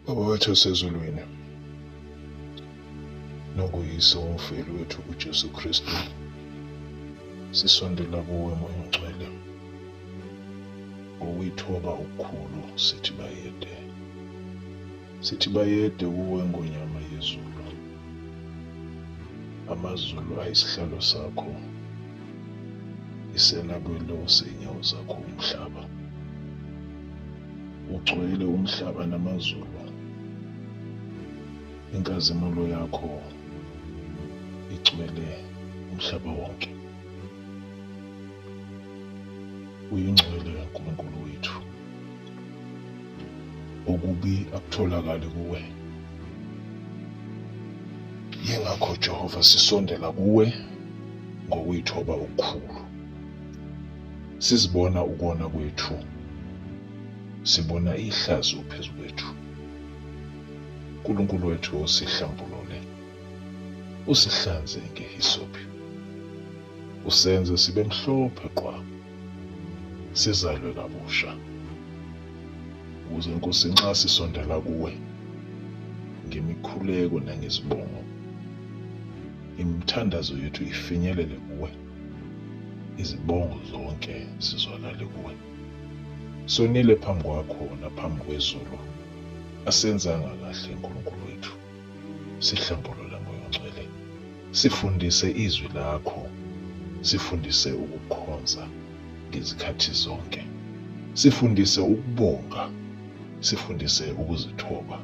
Baba wethu osezulwini, nokuyise umfeli wethu kuJesu Kristu, sisondela kuwe moya ongcwele ngokuyithoba okukhulu sithi bayede sithi bayede kuwe ngonyama yezulu amazulu ayisihlalo sakho isela kwelo seyinyawo zakho umhlaba ugcwele umhlaba namazulu inkazimulo yakho igcwele umhlaba wonke uyingcwele uNkulunkulu wethu okubi akutholakali kuwe yingakho Jehova sisondela kuwe ngokuyithoba okukhulu Sizibona ukona kwethu. Sibona ihlazo phezu kwethu. uNkulunkulu wethu usihlambulule. Usihlanze ngehisophi. Usenze sibe mhlophe qwa. Sizalwe kabusha. Ukuze Nkosi nxa sisondela kuwe ngemikhuleko nangezibongo, imithandazo yethu ifinyelele kuwe. izibongo zonke zizwakale kuwe. Sonile phambi kwakho naphambi kwezulu, asenzanga kahle Nkulunkulu wethu. Sihlambulule moya ongcwele, sifundise izwi lakho, sifundise ukukhonza ngezikhathi zonke, sifundise ukubonga, sifundise ukuzithoba,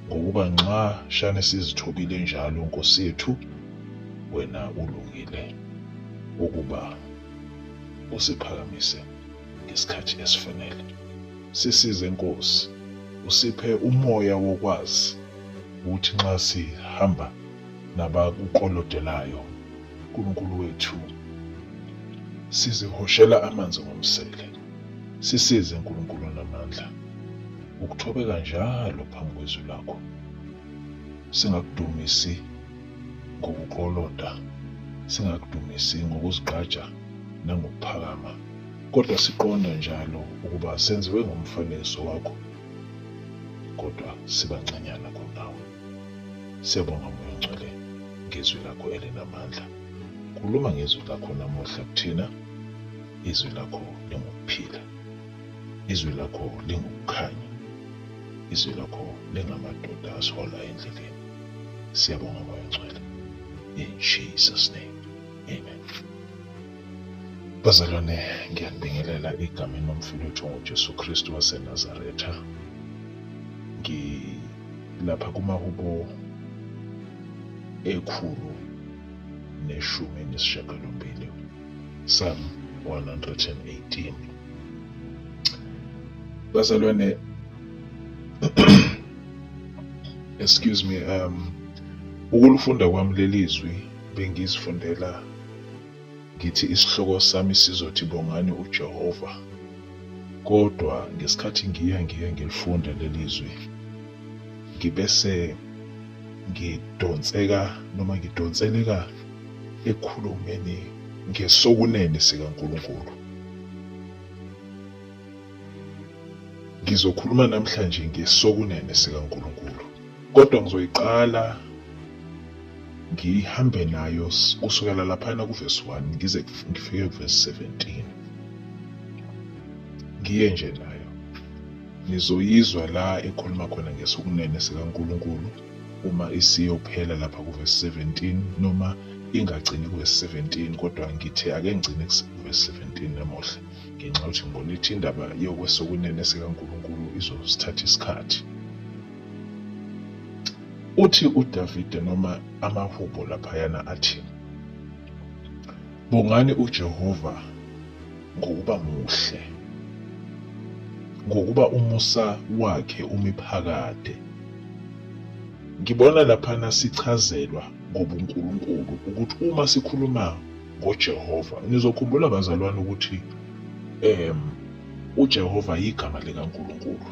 ngokuba nxa shane sizithobile njalo Nkosi yethu wena ulungile ukuba usiphakamise ngesikhathi esifanele. Sisize Nkosi, usiphe umoya wokwazi ukuthi nxa sihamba nabakukolodelayo uNkulunkulu wethu sizihoshela amanzi ngomsele. Sisize Nkulunkulu namandla ukuthobeka njalo phambi kwezwi lakho. Singakudumisi ngokukloloda, singakudumisi ngokuzigqaja nangokuphakama, kodwa siqonda njalo ukuba senziwe ngomfanekiso wakho, kodwa sibancanyana kunawe. Siyabonga Moya Ongcwele ngezwi lakho elinamandla. Khuluma ngezwi lakho namuhla kuthina. Izwi lakho lingukuphila. Izwi lakho lingukukhanya. Izwi lakho lingamadoda asihola endleleni. Siyabonga Moya Ngcwele. In Jesus name. Amen. Bazalwane, ngiyanibingelela egameni lomfowethu ngoJesu Kristu waseNazaretha. Ngilapha kumahubo ekhulu neshumi nesishiyagalombili Psalm 118 bazalwane excuse me um ukulifunda kwami lelizwi bengizifundela ngithi isihloko sami sizothi bongani uJehova kodwa ngesikhathi ngiya ngiye ngilifunda lelizwi ngibese ngidonseka noma ngidonseleka ekhulumeni ngesokunene sikaNkulunkulu Ngizokhuluma namhlanje ngesokunene sikaNkulunkulu, kodwa ngizoyiqala ngihambe nayo kusukela laphana kuvesi 1 ngize ngifike kuvesi 17 ngiye nje nayo nizoyizwa la ekhuluma khona ngesokunene sikaNkulunkulu uma isiyophela lapha kuvesi 17 noma ingagcini kuvesi 17 kodwa ngithe ake ngigcine kuvesi 17 namuhla ngenxa yokuthi ngibona ithi indaba yokwesokunene sikaNkulunkulu izosithatha isikhathi uthi uDavide noma amahubo laphayana athi bongani uJehova ngokuba muhle ngokuba umusa wakhe umiphakade ngibona laphana sichazelwa ngobuNkulunkulu ukuthi uma sikhuluma ngoJehova. Nizokhumbula bazalwane ukuthi um uJehova yigama likaNkulunkulu.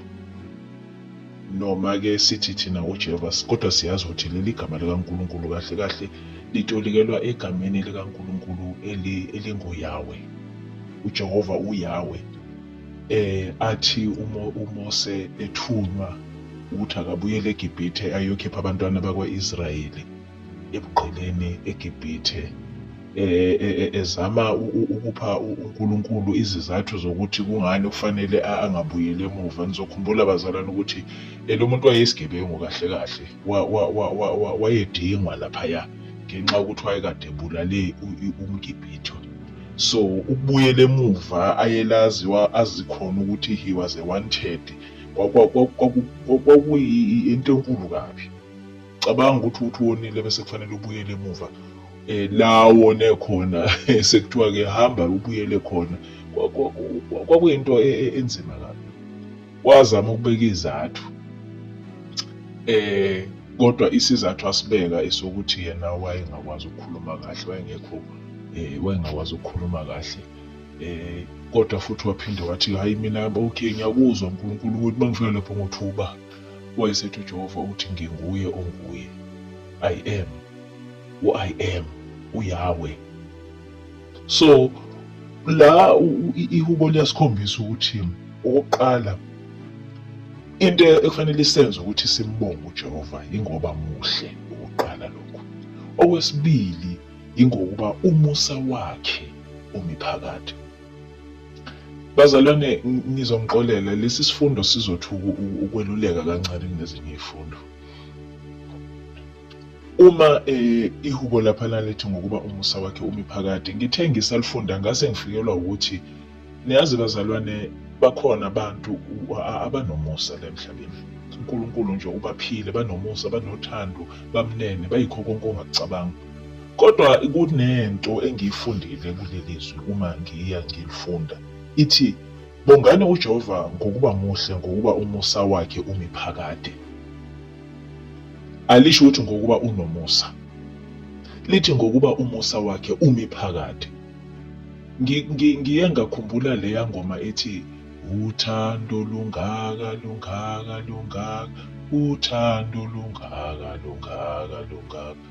Noma-ke sithi thina uJehova kodwa siyazi ukuthi leli gama likaNkulunkulu kahle kahle litolikelwa egameni likaNkulunkulu eli- elinguYawe. UJehova uYawe. Eh athi uMo- uMose ethunywa ukuthi akabuyele eGibhithe ayokhipha abantwana bakwa-Israyeli. ebugqilini eGibhithe e, e, e, ezama ukupha uNkulunkulu izizathu zokuthi kungani kufanele angabuyeli emuva nizokhumbula bazalwane ukuthi lo muntu wayeyisigebengu kahle kahle wayedingwa laphaya ngenxa yokuthi wayekade ebulale umgibhitho so ukubuyela emuva ayelazi azikhona ukuthi he was a wanted kwakuyinto enkulu kabi cabanga ukuthi uthi wonile bese kufanele ubuyele emuva eh la wone khona sekuthiwa ke hamba ubuyele khona kwakuyinto e, e, enzima kabi wazama ukubeka izathu eh kodwa isizathu asibeka esokuthi yena wayengakwazi ukukhuluma kahle wayengekho eh wayengakwazi ukukhuluma kahle eh kodwa futhi waphinde wathi hayi mina okay ngiyakuzwa uNkulunkulu ukuthi mangifika lapho ngothuba Wayesethi uJehova uthi nginguye onguye. I am. U-I am uYahweh. So la ihubo liyasikhombisa ukuthi okokuqala into ekufanele isenze ukuthi simbonge uJehova ingoba muhle ukuqala lokhu. Okwesibili ingokuba umusa wakhe umi phakade. Bazalwane ngizonixolela lesi sifundo sizothuka ukweluleka kancane kunezinye izifundo. Uma eh, ihubo lapha lalithi ngokuba umusa wakhe umi phakade, ngithe ngisalifunda ngase ngifikelwa ukuthi niyazi bazalwane bakhona abantu abanomusa la emhlabeni. uNkulunkulu nje ubaphile banomusa banothando bamnene bayikho konke ongakucabanga Kodwa kunento engiyifundile kuleli zwi uma ngiya ngilifunda. Ithi, Bongani uJehova ngokuba muhle ngokuba umusa wakhe umi phakade. Alisho ukuthi ngokuba unomusa. Lithi ngokuba umusa wakhe umi phakade. Ngi- ngi- Ngiye ngakhumbula leya ngoma ethi uthando lungaka lungaka lungaka uthando lungaka lungaka lungaka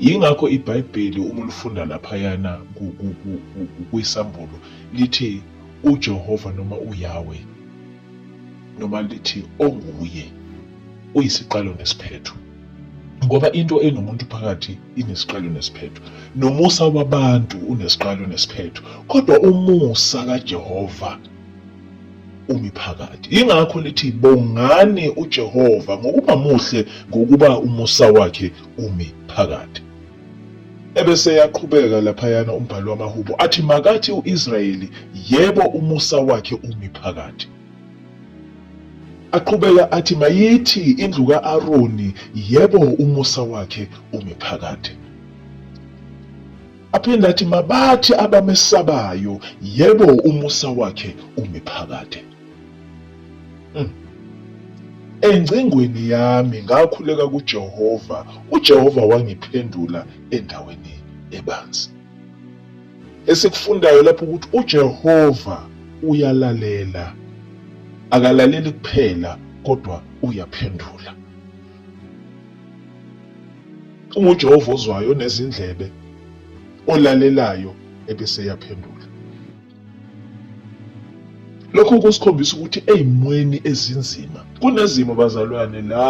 Yingakho iBhayibheli uma ulifunda laphayana ku- ku- ku- ku- ku- kwisambulo lithi uJehova noma uYawe noma lithi onguye uyisiqalo nesiphetho ngoba into enomuntu phakathi inesiqalo nesiphetho nomusa wabantu unesiqalo nesiphetho kodwa umusa kaJehova umi phakathi yingakho lithi bongani uJehova ngokuba muhle ngokuba umusa wakhe umi phakathi. Ebese yaqhubeka laphayana umbhalo wamaHubo athi makathi uIsrayeli yebo umusa wakhe umi phakathi. Aqhubeka athi mayithi indlu kaAroni yebo umusa wakhe umi phakathi. Aphinde athi mabathi abamesabayo yebo umusa wakhe umi phakade. Mm. Engcingweni yami ngakhuleka kuJehova, uJehova wangiphendula endaweni ebanzi. Esikufundayo lapho ukuthi uJehova uyalalela. Akalaleli kuphela kodwa uyaphendula. UnguJehova ozwayo onezindlebe olalelayo ebese yaphendula. Lokho kusikhombisa ukuthi ezimweni ezinzima kunezimo bazalwane la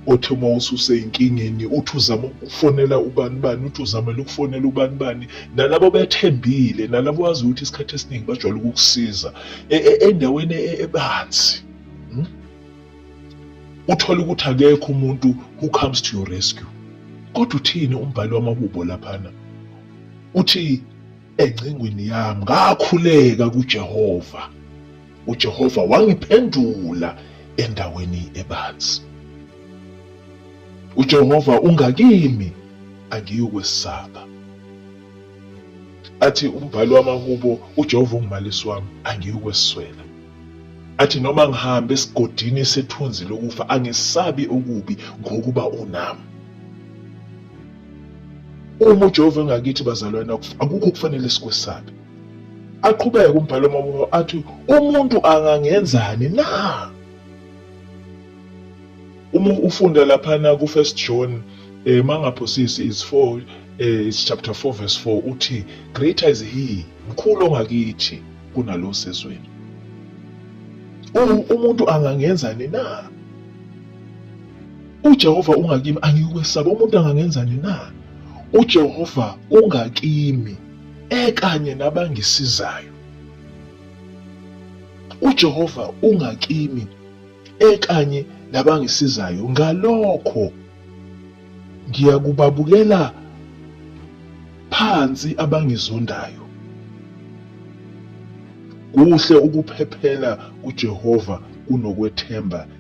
othi uma ususeyinkingeni uthi uzama ukufonela ubani bani uthi uzamela ukufonela ubani bani nalabo bethembile nalabo wazi ukuthi isikhathi esiningi bajwayele ukukusiza e, e, endaweni e, ebanzi hmm? uthole ukuthi akekho umuntu who comes to your rescue kodwa uthini umbhali wamahubo laphana uthi Engcingweni yami ngakhuleka kuJehova. UJehova wangiphendula endaweni ebanzi. UJehova ungakimi angiyokwesaba. Athi umbhali wamahubo uJehova ungumalisi wami angiyokweswela. Athi noma ngihambe esigodini sethunzi lokufa angisabi okubi ngokuba unami. Uma uJehova engakithi bazalwane akukho okufanele sikwesabe. Aqhubeke umbhalo omabona athi umuntu angangenzani na? Uma ufunda laphana ku First John eh mangaphosisi is 4 eh is chapter 4 verse 4 uthi greater is he mkhulu ongakithi kunalo sezweni. Umuntu angangenzani na? UJehova ungakimi angiyukwesaba umuntu angangenzani na? UJehova ungakimi ekanye nabangisizayo. UJehova ungakimi ekanye nabangisizayo ngalokho ngiyakubabukela phansi abangizondayo. Kuhle ukuphephela kuJehova kunokwethemba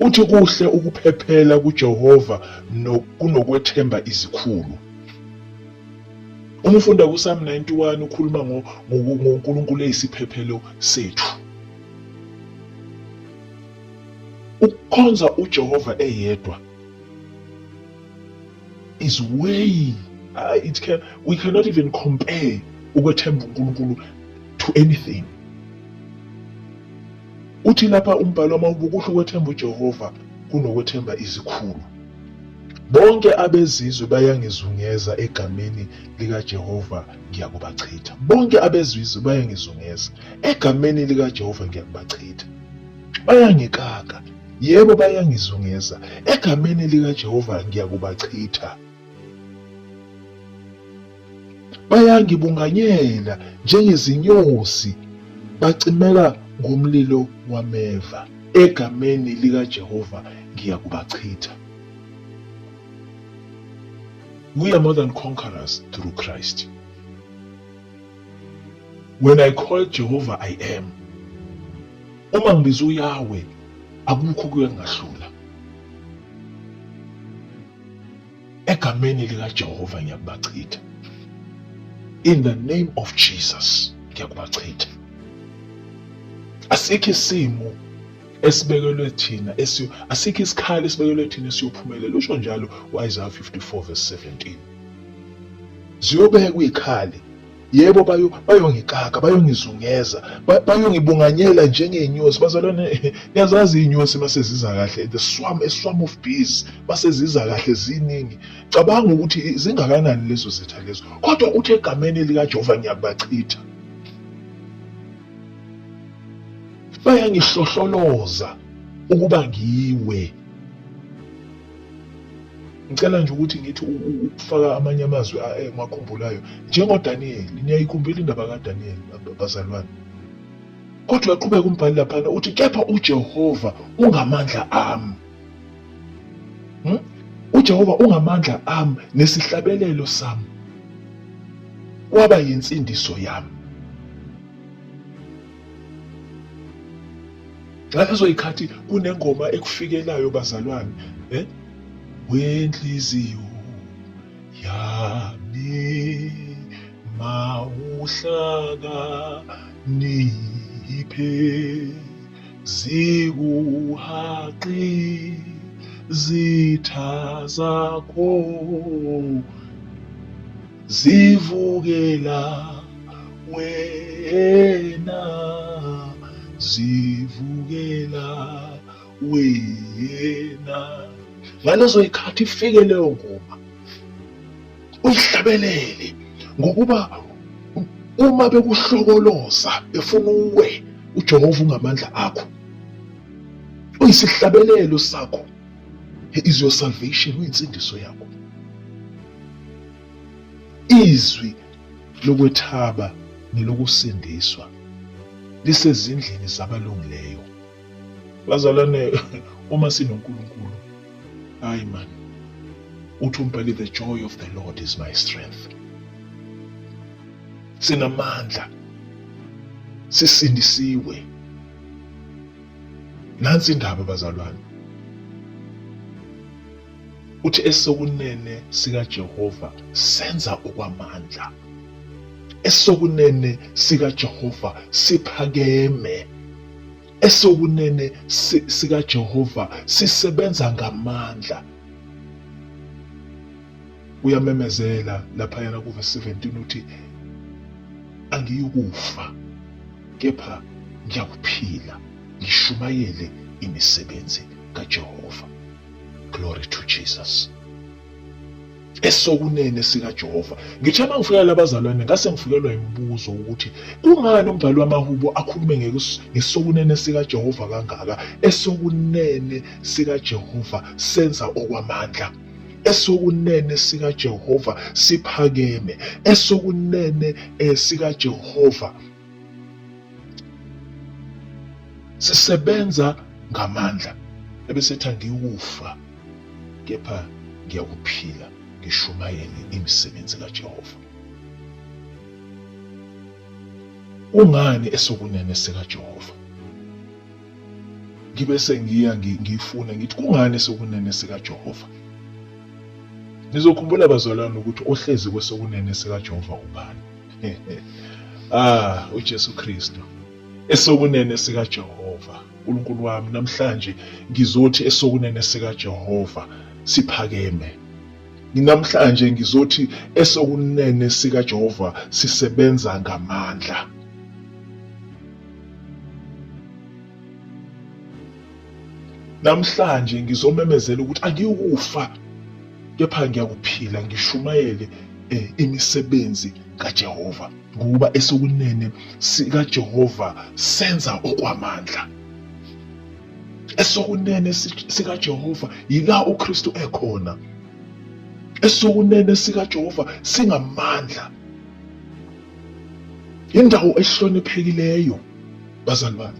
Uthi kuhle ukuphephela kuJehova kunokwethemba izikhulu. Uma ufunda kuSam 91 ukhuluma ngoNkulunkulu eyisiphephelo sethu. Ukukhonza uJehova eyedwa is way uh, it can we cannot even compare ukwethemba uNkulunkulu to anything. Uthi lapha umbhalo wama ubukuhle ukwethemba uJehova kunokwethemba izikhulu. Bonke abezizwe bayangizungeza egameni likaJehova ngiyakubachitha. Bonke abezizwe bayangizungeza egameni likaJehova ngiyakubachitha. Bayangikaka, yebo bayangizungeza egameni likaJehova ngiyakubachitha. Bayangibunganyela njengezinyosi, bacimeka ngomlilo wameva. Egameni likaJehova ngiyakubachitha. We are more than conquerors through Christ. When I call Jehovah I am. Uma ngibiza uYahweh akukho kuyangahlula. Egameni likaJehova ngiyakubachitha. In the name of Jesus ngiyakubachitha. Asikho isimo esibekelwe thina esiyo asikho isikhali esibekelwe thina esiyophumelela usho njalo waIsaya 54 verse 17 ziyobekwa izikhali Yebo bayo bayongixaka, bayongizungeza, ba- bayongibunganyela njengey'nyosi. Bazalwane, niyazazi iy'nyosi mase ziza kahle, the swarm, a swarm of bees, mase ziza kahle ziningi. Cabanga ukuthi i- zingakanani lezo zitha lezo. Kodwa uthi egameni elikaJehova ngiyakubachitha. Bayangihlohloloza ukuba ngiwe. ngicela nje ukuthi ngithi ukufaka amanye amazwi emakhumbulayo njengodaniyeli niyayikhumbula indaba kadaniyeli bazalwane kodwa uyaqhubeka umbhali laphana uthi kepha ujehova ungamandla ami hmm? ujehova ungamandla ami nesihlabelelo sami waba yinsindiso yami ngalezo yikhathi kunengoma ekufikelayo bazalwane eh wenhliziyo yami mawuhlaka niphe zikuhaqi zitha zakho zivukela wena zivukela wena ngalezo yikhathi ifike leyo ngoma uyihlabelele ngokuba uma bekuhlokoloza efuna uwe uJehova ungamandla akho uyisihlabelelo sakho He is your salvation, uyinsindiso yakho. Izwi lokwethaba nelokusindiswa lisezindlini zabalungileyo. Bazalwane, uma sinoNkulunkulu, hayi man, uthi umbhali the joy of the Lord is my strength. Sinamandla, sisindisiwe. Nansi indaba bazalwane. Uthi esokunene sikaJehova senza okwamandla. Esokunene sikaJehova siphakeme. Esokunene sikaJehova sisebenza ngamandla. uyamemezela laphayana kuvesi 17 uthi angiyukufa kepha ngiyakuphila ngishumayele imisebenzi kaJehova glory to Jesus esokunene sikaJehova ngithe uma ngifika labazalwane ngase ngifikelwa imibuzo ukuthi kungani umbhali wamahubo akhulume ngesokunene sikaJehova kangaka esokunene sikaJehova senza okwamandla esokunene sikaJehova siphakeme esokunene eh, sikaJehova sisebenza ngamandla ebesethi angiyukufa kepha ngiyakuphila ngishumayele imisebenzi kaJehova ungani esokunene sikaJehova ngibe sengiya ngifuna ngithi kungani sokunene sikaJehova nizokhumbula bazalwane ukuthi ohlezi kwesokunene sikaJehova ubani ah uJesu Kristu esokunene sikaJehova uNkulunkulu wami namhlanje ngizothi esokunene sikaJehova siphakeme namhlanje ngizothi esokunene sikaJehova sisebenza ngamandla Namhlanje ngizomemezela ukuthi angiyukufa kepha ngiyakuphila ngishumayele eh, imisebenzi kaJehova ngoba esokunene sikaJehova senza okwamandla esokunene sikaJehova yila uKristu ekhona esokunene sikaJehova singamandla Indawo ehloniphekileyo bazali bami.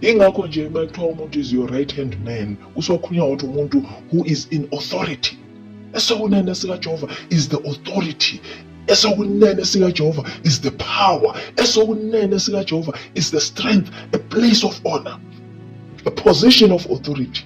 Ingakho nje uma kuthiwa umuntu is your right hand man kusokhulunywa ukuthi umuntu who is in authority. Esokunene sikaJehova is the authority esokunene sikaJehova is the power esokunene sikaJehova is the strength a place of honor a position of authority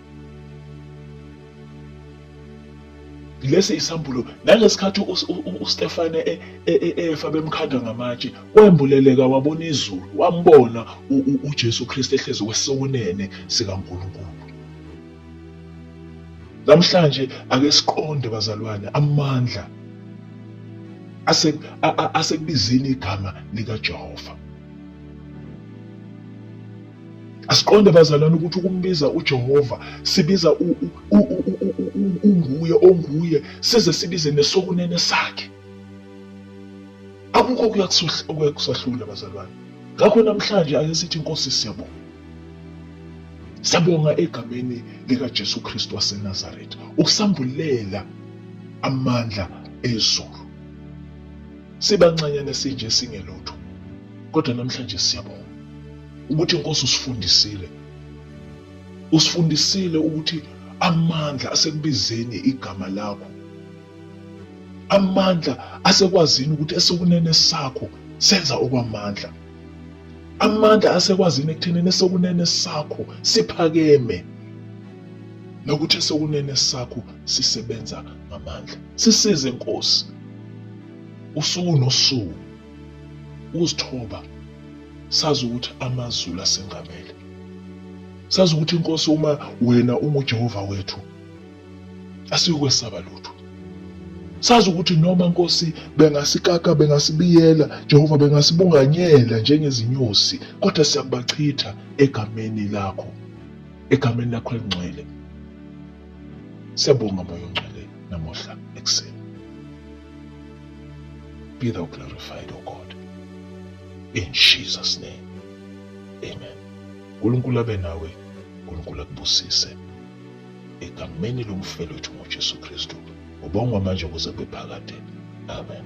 lesi isambulo nangesikhathi uStefane e, e, e, efa bemkhanda ngamatshe wembuleleka wabona izulu wambona uJesu Kristu ehlezi kwesokunene sikaNkulunkulu namhlanje ake siqonde bazalwane amandla ase asekubizini igama likaJehova Asiqonde bazalwane ukuthi ukumbiza uJehova sibiza unguye onguye size sibize nesokunene sakhe. Akukho okuyakusahlula bazalwane. Ngakho namhlanje ake sithi inkosi siyabonga. Siyabonga egameni likaJesu Kristu waseNazaretha ukusambulela amandla ezulu. Sibancanyane sinje singelutho. Kodwa namhlanje siyabonga ukuthi inkosi usifundisile usifundisile ukuthi amandla asekubizeni igama lakho amandla asekwazini ukuthi esokunene sakho senza okwamandla amandla asekwazini ekuthenini esokunene sakho siphakeme nokuthi esokunene sakho sisebenza ngamandla sisize nkosi usuku nosuku ukuzithoba sazi ukuthi amazulu asengamele sazi ukuthi inkosi uma wena unguJehova wethu asiyokwesaba lutho sazi ukuthi noma nkosi bengasikaka bengasibiyela Jehova bengasibunganyela njengezinyosi kodwa siyakubachitha egameni lakho egameni lakho elingcwele siyabonga moya ongcwele namuhla ekuseni Be thou glorified, O God. In Jesus' name. Amen. uNkulunkulu abe nawe, uNkulunkulu akubusise. Egameni lomfelo wethu ngoJesu Kristu. Ubongwa manje kuze kube phakade. Amen.